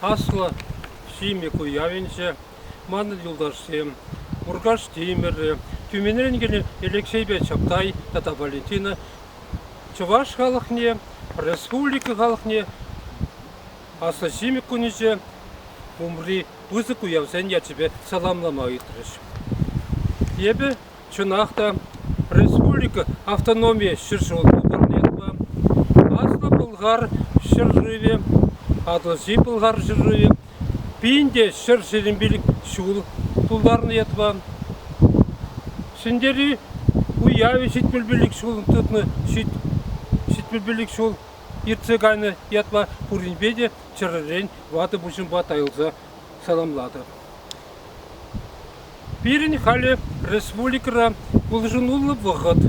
Аслӑ Ҫимӗк уявӗнче манӑн юлташсем Муркаш Тимӗрӗ, Тюменрен килнӗ Элексейпе Чаптай тата Валентина чӑваш халӑхне, республика халӑхне Аслӑ Ҫимӗк кунӗнче умри пысӑк уявсен ячӗпе саламлама ыйтрӗҫ. Эпӗ Чӑнах та, республика автономи ҫӗршывӑн пултарулӑхӗпе Аслӑ Пӑлхар ҫӗршывӗ, Атӑлҫи Пӑлхар ҫӗршывӗ пин те ҫӗршывӗн пилӗк ҫул тултарнӑ ятпа. Ҫӗнтерӳ уявӗ ҫитмӗл пилӗк ҫул тытнӑ ҫитмӗл пилӗк ҫул иртсе кайнӑ ятла пуринпе те чӗререн ватӑ пуҫӑмпа тайӑлса саламлатӑп. Пирӗн халӗ республикӑра улшӑнуллӑ вӑхӑт.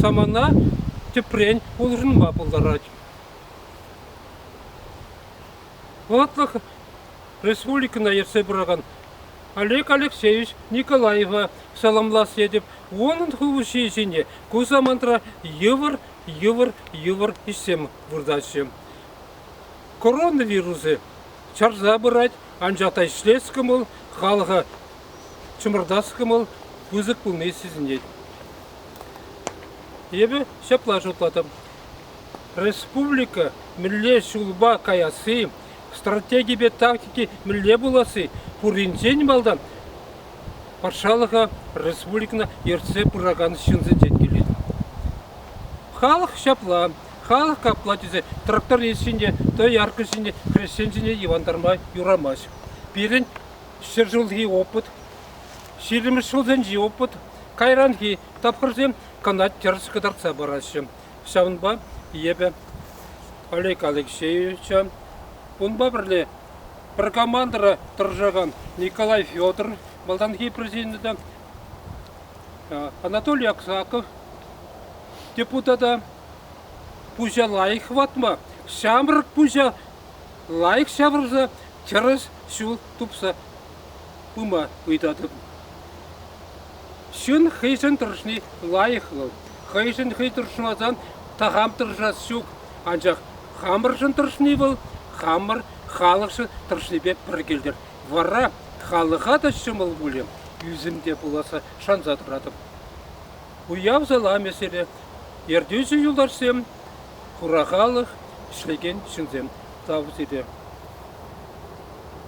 Самана тӗпрен улшӑнма пултарать. Вӑхӑтлӑх республикӑна ертсе пыракан Олег Алексеевич Николаева саламлас етӗп унӑн хулҫи ҫине ку самантра йывӑр, йывӑр, йывӑр ӗҫсем выртаҫҫӗ. Коронавирусӗ чарса пырать, анчах та ӗҫлес кӑмӑл, халӑха чӑмӑртас кӑмӑл пысӑк пулни сисӗнет. Эпӗ ҫапла шутлатӑп. Республика мӗнле ҫулпа каясси, стратегипе тактики мӗнле пуласси пуринчен малтан патшалӑха республикӑна ертсе пыракан ҫынсенчен килет. Халӑх ҫапла, Халӑх апла тесе трактор ҫинче, доярка ҫинче, хресчен ҫинче йӑвантарма юрамасть. Пирӗн ҫӗр ҫулхи опыт, ҫирӗммӗш ҫулсенчи опыт, кайранхи тапхӑрсем кӑна тӗрӗс кӑтартса параҫҫӗ. Ҫавӑнпа эпӗ Олег Алексеевича, унпа пӗрле пӗр командӑра тӑрӑшакан Николай Федор, малтанхи президента, Анатолий Аксаков депутата пуҫа лайӑх ватма, ҫамрӑк пуҫа лайӑх ҫавӑрса тӗрӗс ҫул тупса пыма ыйтатӑп. Ҫын хӑйсен тӑрӑшни лайӑх вӑл. Хӑйсен хӑй тӑрӑшмасан тахам тӑрӑшас ҫук. Анчах хамӑршӑн тӑрӑшни вӑл хамӑр халӑхшӑн тӑрӑшнипе пӗр килтӗр. Вара халӑха та ҫӑмӑл пулӗ, ӳсӗм те пуласса шанса тӑратӑп. Уяв саламӗ сире, ертӳҫӗ юлташсем, кура халӑх, ӗҫлекен ҫынсем, тав сире.